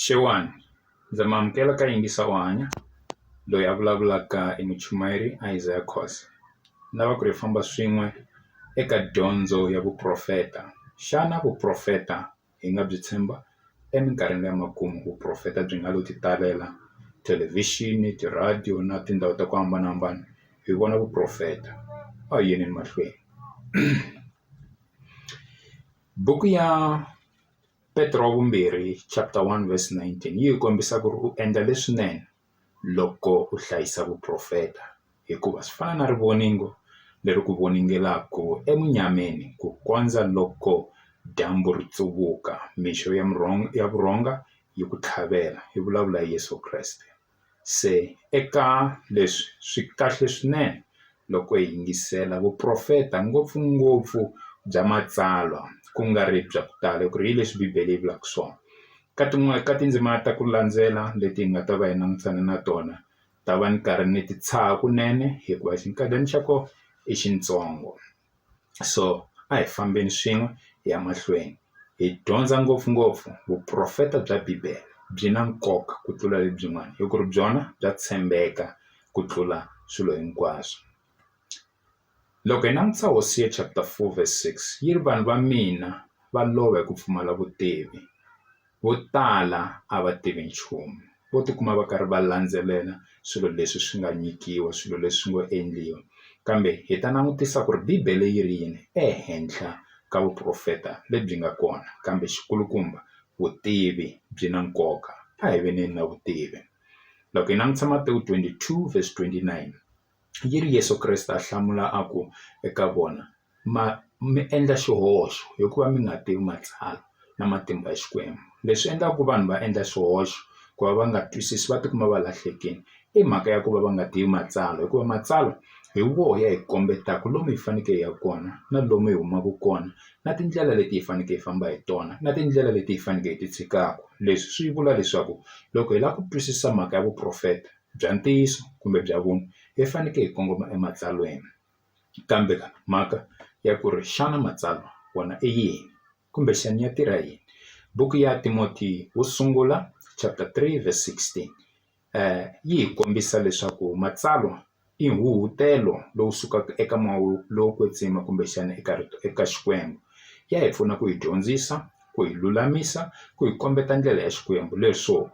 Xewani ndza mi amukela ka yingisa u hanya loyi a vulavulaka i muchayeri Isaiah Khoza ni lava ku ri hi famba swin'we eka dyondzo ya vuporofeta xana vuporofeta hi nga byi tshemba eminkarhini ya makumu vuporofeta byi nga lo ti talela thelevhixini ti-radio na tindhawu ta ku hambanahambana hi vona vuporofeta a hi yeni emahlweni buku ya Petro wa vumbirhi chapter 1 verse 19 yi hi kombisa ku ri u endla leswinene loko u hlayisa vuprofeta hikuva swi fana na rivoningo leri ku voningelaku emunyameni ku kondza loko dyambu ri tsuvuka mixo ya ya vurhonga yi ku tlhavela yi vulavula Yeso Kreste. Se eka leswi swi kahle swinene loko hi yingisela vuprofeta ngopfungopfu bya matsalwa ku nga ri bya ku tala hi ku ri hi leswi bibele yi vulaka swona ka tin'wani ka tindzimana ta ku landzela leti hi nga ta va hi langutane na tona ta va ni karhi ni ti tshaha kunene hikuva xinkadyana xa kona i xitsongo. so a hi fambeni swin'we hi ya mahlweni hi dyondza ngopfungopfu vuporofeta bya bibele byi na nkoka ku tlula lebyin'wana hi ku ri byona bya tshembeka ku tlula swilo hinkwaswo loko hi langutisa Hosiya chapter four verse six yi ri vanhu va mina va lova hi ku pfumala vutivi. vo tala a va tivi nchumu vo tikuma va karhi va landzelela swilo leswi swi nga nyikiwa swilo leswi ngo endliwa kambe hi ta langutisa ku ri bibele yi ri yini ehenhla ka vuporofeta lebyi nga kona kambe xi kulukumba vutivi byi na nkoka a hi veneni na vutivi loko hi langutisa Matewu twenty two verse twenty nine yi ri Yeso Kreste a hlamula a ku eka vona, Ma mi endla xihoxo hikuva mi nga tivi Matsalwa na matimba ya Xikwembu. Leswi endlaka ku vanhu va endla swihoxo ku va va nga twisisi va tikuma va lahlekile i mhaka ya ku va va nga tivi Matsalwa hikuva Matsalwa hi woho ya hi kombetaka lomu hi fanekele hi ya kona na lomu hi humaka kona na tindlela leti hi fanekele hi famba hi tona na tindlela leti hi fanekele hi ti tshikaka. Leswi swi vula leswaku loko hi lava ku twisisa mhaka ya vuporofeta. bya ntiyiso kumbe bya vunwa hi faneke hi kongoma ematsalweni kambe mhaka ya ku ri xana matsalwa wona i yini kumbexani ya tirha yini buku ya Timoti wo sungula chapter three verse sixteen yi hi kombisa leswaku matsalwa i huhutelo lowu sukaka eka moya lowo kwetsima kumbexana eka eka Xikwembu ya hi pfuna ku hi dyondzisa ku yi lulamisa ku hi kombeta ndlela ya Xikwembu leswo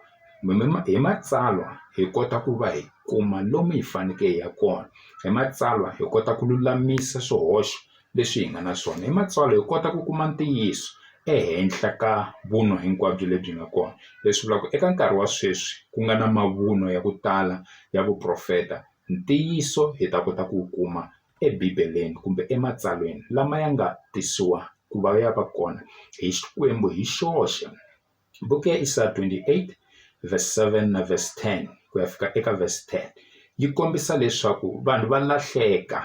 hi matsalwa hi kota ku va hi kuma lomu hi faneke hi ya kona hi matsalwa hi kota ku lulamisa swihoxo leswi hi nga na swona hi matsalwa hi kota ku kuma ntiyiso ehenhla ka vunwa hinkwabyo lebyi nga kona leswi vulaka eka nkarhi wa sweswi ku nga na mavunwa ya ku tala ya vuprofeta ntiyiso hi ta kota ku wu kuma eBibeleni kumbe ematsalweni lama ya nga tisiwa ku va ya va kona hi Xikwembu hi xoxe. Buku ya Isaya 28 verse 7 na verse 10 ku ya fika eka verse 10 yi kombisa leswaku vanhu va lahleka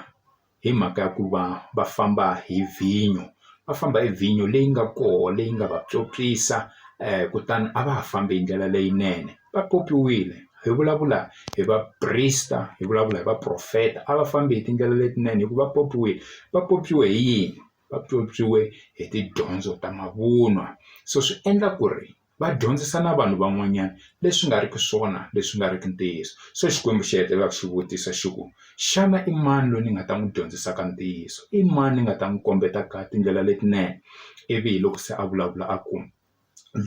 hi mhaka ya ku va va famba hi vhinyo va famba hi vhinyo leyi nga koho leyi nga va pyopyisa um kutani a va ha fambi hi ndlela leyinene. va popiwile hi vulavula hi vaprista hi vulavula hi vaprofeta a va fambi hi tindlela letinene hi ku va popiwile va popiwe hi yini va pyopyiwe hi tidyondzo ta mavunwa so swi endla ku ri va dyondzisa na vanhu van'wanyana leswi nga riki swona leswi nga riki ntiyiso so Xikwembu xi hetelela ku xi vutisa xi ku xana i mani loyi ni nga ta n'wi dyondzisaka ntiyiso i mani ni nga ta n'wi kombeta ka tindlela letinene ivi hi loko se a vulavula a ku.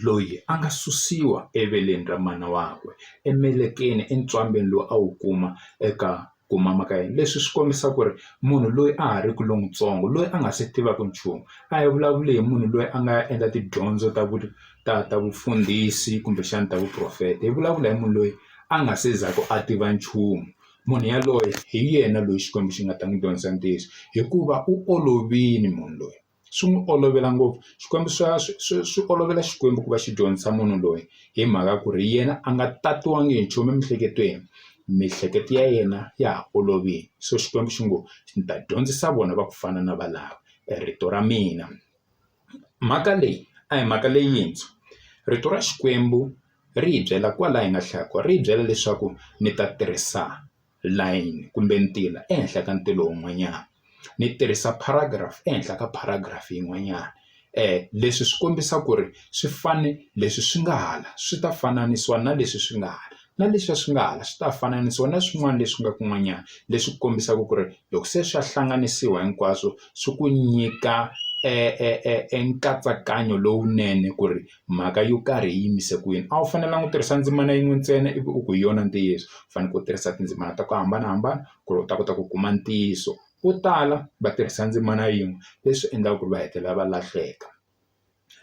loyi a nga susiwa eveleni ra mana wakwe emelekeni entswambini lowu a wu kuma eka ku mama ka yena leswi swi kombisa ku ri munhu loyi a ha ri ku lontsongo loyi a nga se tivaka nchumu a hi vulavuli hi munhu loyi a nga endla tidyondzo ta vu ta ta vufundhisi kumbexana ta vuporofeta hi vulavula hi munhu loyi a nga se za ku a tiva nchumu munhu yaloye hi yena loyi Xikwembu xi nga ta n'wi dyondzisa ntiyiso hikuva u olovile munhu loyi. swi n'wi olovela ngopfu swikwembu swa swi swi swi olovela xikwembu ku va xi dyondzisa munhu loyi hi mhaka ku ri yena a nga tatiwanga hi nchumu emiehleketweni miehleketo ya yena ya ha olovile so xikwembu xi ngo ni ta dyondzisa vona va ku fana na valavo rito ra mina mhaka leyi a hi mhaka leyintshwa rito ra xikwembu ri hi byela kwala hi nga hlaya kona ri hi byela leswaku ni ta tirhisa. layini kumbe ntila ehenhla ka ntila wun'wanyana ni tirhisa paragraph ehenhla ka paragraph yin'wanyana leswi swi kombisa ku ri swi fane leswi swi nga hala swi ta fananisiwa na leswi swi nga hala na leswiya swi nga hala swi ta fananisiwa na swin'wana leswi nga kun'wanyana leswi kombisaka ku ri loko se swa hlanganisiwa hinkwaswo swi ku nyika e nkatsakanyo lowunene ku ri. mhaka yo karhi yi yimise kwini. A wu fanelanga u tirhisa ndzimana yin'we ntsena ivi u ku hi yona ntiyiso, u fanekele u tirhisa tindzimana ta ku hambanahambana ku ri u ta kota ku kuma ntiyiso. Vo tala va tirhisa ndzimana yin'we, leswi endlaka ku ri va hetelela va lahleka.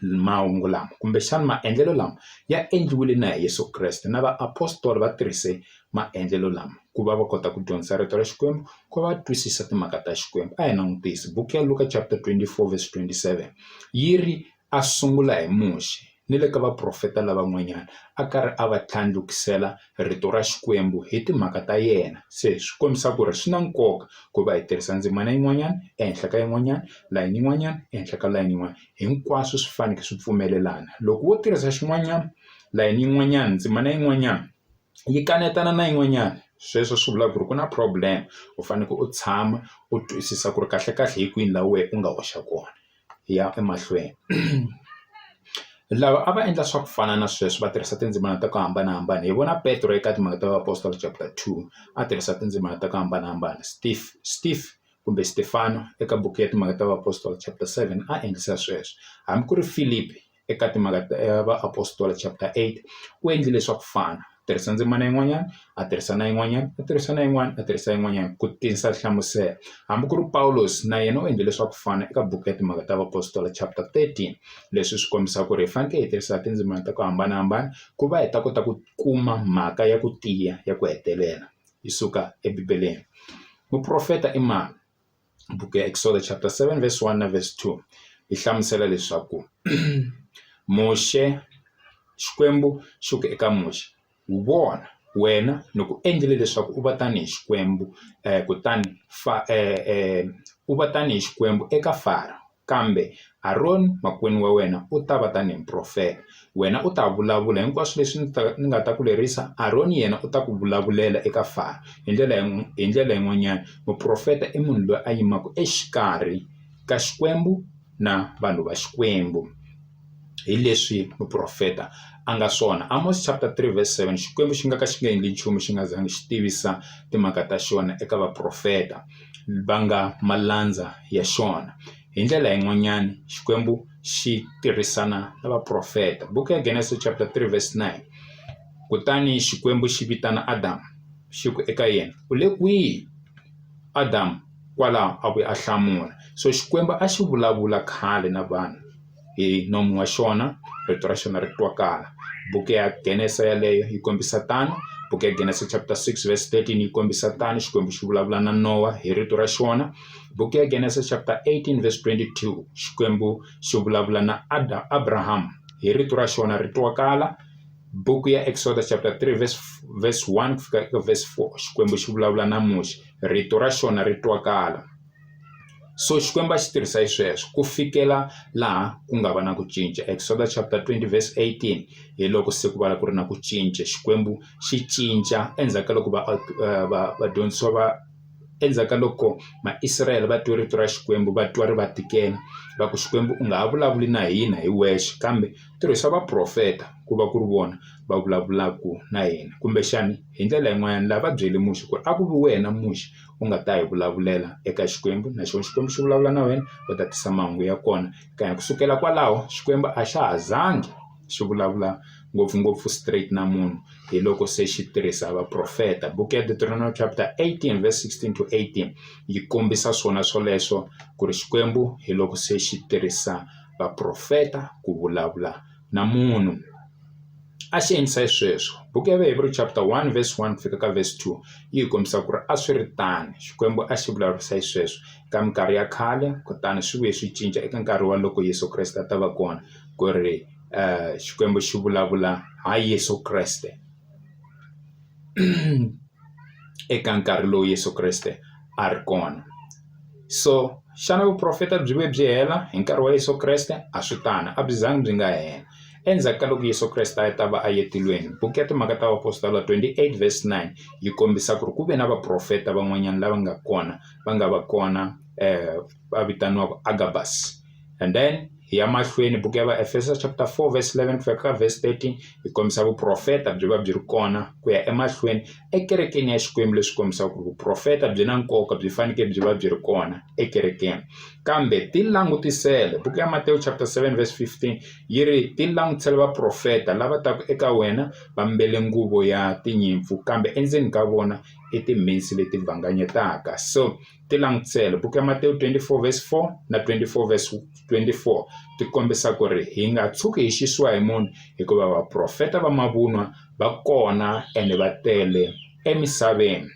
Mahungu lama kumbexana maendlelo lama ya endliwile na hi Yeso Kreste, na vaapostola va tirhise maendlelo lama ku va va kota ku dyondzisa rito ra Xikwembu, ku va va twisisa timhaka ta Xikwembu. A hi langutise buku ya Luka chapter twenty-four verse twenty-seven, yi ri, a sungula hi Muxe ni le ka vaprofeta lavan'wanyana a karhi a va tlhandlukisela rito ra Xikwembu hi timhaka ta yena. Se swi kombisa ku ri swi na nkoka ku va hi tirhisa ndzimana yin'wanyana ehenhla ka yin'wanyana, layini yin'wanyana ehenhla ka layini yin'wana. Hinkwaswo swi fanekele swi pfumelelana. Loko wo tirhisa xin'wanyana, layini yin'wanyana, ndzimana yin'wanyana yi kanetana na yin'wanyana, sweswo swi vula ku ri ku na problem. U fanekele u tshama u twisisa ku ri kahlekahle hi kwini laha wena u nga hoxa kona. ya emahlweni lava a va endla swa ku fana na sweswo va tirhisa tindzimana ta ku hambanahambana hi vona petro eka timhaka ta vaapostola chapter two a tirhisa tindzimana ta ku hambanahambana steve steve kumbe Stefano eka buku ya timhaka ta vaapostola chapter seven a endlisa sweswo hambi ku ri Filipi. eka timhaka ta va Apostola chapter eight u endlile swa ku fana u tirhisa ndzimana yin'wanyana a tirhisa na yin'wanyana a tirhisa na yin'wana a tirhisa yin'wanyana ku tisa nhlamuselo hambi ku ri Pawulos na yena u endle leswaku fana eka buku ya timhaka ta Apostola chapter thirteen leswi swi kombisa ku ri hi fanekele hi tirhisa tindzimana ta ku hambanahambana ku va hi ta kota ku kuma mhaka ya ku tiya ya ku hetelela yi suka ebibeleni muprofeta i mani buku ya Exod chapter 7 verse 1 na verse 2 yi hlamusela leswaku Muxe Xikwembu xi ku eka Muxe wu vona wena ni ku endlile leswaku u va tanihi Xikwembu um kutani fa um u va tanihi Xikwembu eka Faro Kambe Aroni makwenu wa wena u ta va tanihi muprofeta. Wena u ta vulavula hinkwaswo leswi ni ta, ni nga ta ku lerisa, Aroni yena u ta ku vulavulela eka Faro. Hi ndlela yi, hi ndlela yin'wanyana, muprofeta i munhu loyi a yimaka exikarhi ka Xikwembu na vanhu va Xikwembu. hi leswi muprofeta a nga swona Amos chapter 3 verse 7 Xikwembu xi nga ka xi nga endli nchumu xi nga zangi xi tivisa timhaka ta xona eka vaprofeta va nga malandza ya xona hi ndlela yin'wanyana Xikwembu xi tirhisana na vaprofeta buku ya Genesis chapter 3 verse 9 kutani Xikwembu xi vitana Adam xi ku eka yena u le kwihi Adam Kwalaho a vuye a hlamula, So Xikwembu a xi vulavula khale na vanhu hi nomu wa xona, rito ra xona ri twakala. Buku ya Genesa yaleyo yi kombisa tano, buku ya Genesa chapter 6 verse 13 yi kombisa tano, Xikwembu xi vulavula na Nowa hi rito ra xona. Buku ya Genesa chapter 18 verse 22, Xikwembu xi vulavula na Adam, Abraham hi rito ra xona ri twakala. Buku ya Exodus chapter 3 verse, verse 1 ku fika eka verse 4, Xikwembu xi vulavula na Muxe. rito ra xona ri twakala so Xikwembu a xi tirhisa hi sweswo ku fikela laha ku nga va na ku cinca Exodo chapter 20 verse 18 hi loko se ku va ku ri na ku cinca Xikwembu xi cinca endzhaku ka loko va eh, va vadyondzisiwa va endzhaku ka loko maisrayele va twe rito ra xikwembu va twa ri va tikela va ku xikwembu u nga ha vulavuli na hina hi wexe kambe tirhisa vaprofeta ku va ku ri vona va vulavulaka na hina kumbexani hi ndlela yin'wanyana lava va byele muxe ku ri a ku vi wena muxe u nga ta hi vulavulela eka xikwembu na xona xikwembu xi vulavula na wena u ta tisa mahungu ya kona ka ku sukela kwalaho xikwembu a xa ha zangi xi vulavula ngopfungopfu straight na munhu hi loko se xi tirhisa vaprofeta buku ya deuteronomy chapter 18 verse 16 to 18 yi kombisa swona swoleswo ku ri xikwembu hi loko se xi tirhisa vaprofeta ku vulavula na munhu a xi endlisa xisweswo buku ya Vaheveri chapter 1 verse 1 fika ka verse 2 yi hi kombisa ku ri a swi ri tani Xikwembu a xi vulavurisa xisweswo ka minkarhi ya khale kutani swi vuye swi cinca eka nkarhi wa loko Yesu Kreste a ta va kona ku ri um Xikwembu xi vulavula ha Yesu Kreste eka nkarhi lowu Yesu Kreste a ri kona. So, xana vuprofeta byi vuye byi hela hi nkarhi wa Yesu Kreste? A swi tano, a byi zanga byi nga hela. Endzhaku ka loko Yesu Kreste a ta va a ye tilweni, buku ya Timhaka ta Vaapostolo 28 verse 9 yi kombisa ku ri ku ve na vaprofeta van'wanyana lava nga kona, va nga va kona va vitaniwaka Agabus. and then hi ya mahlweni buku ya vaefeso chapter 4 verse 11 ku fika ka verse 13 hi kombisa vuprofeta byi va byi ri kona ku ya emahlweni ekerekeni ya xikwembu leswi kombisaka ku ri vuprofeta byi na nkoka byi fanekele byi va byi ri kona ekerekeni kambe ti langutisele buku ya matewu chapter 7 verse 15 yi ri ti langutisele vaprofeta lava taku eka wena va mbele nguvo ya tinyimpfu kambe endzeni ka vona i timhinsi leti vanganyetaka so Ti langutisele. Buku ya Matewu 24 verse 4 na 24 verse 24 ti kombisa ku ri hi nga tshuki hi xisiwa hi munhu hikuva vaprofeta va mavunwa va kona ene va tele emisaveni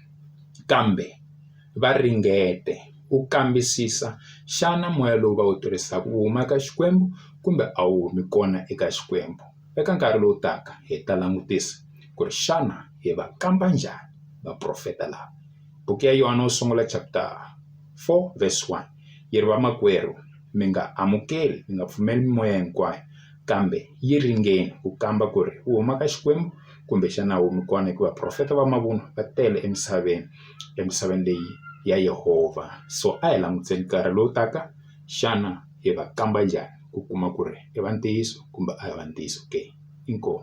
kambe va ringete ku kambisisa xana moya lowu va wu tirhisaka wu huma eka Xikwembu kumbe a wu humi kona eka Xikwembu eka nkarhi lowu taka hi ta langutisa ku ri xana hi va kamba njhani vaprofeta lava Buku ya Yohana wo Sungula chapter 4 verse 1 yi ri, Vamakwerhu, mi nga amukeli, mi nga pfumeli mimoya hinkwayo, kambe yi ringeni ku kamba ku ri wu huma ka Xikwembu kumbe xana wu mi kona, hikuva vaprofeta va mavunwa va tele emisaveni, emisaveni leyi ya Yehovha. So a hi languteni nkarhi lowu taka, xana hi va kamba njhani ku kuma ku ri i va ntiyiso kumbe a hi va ntiyiso ke. Inkomu.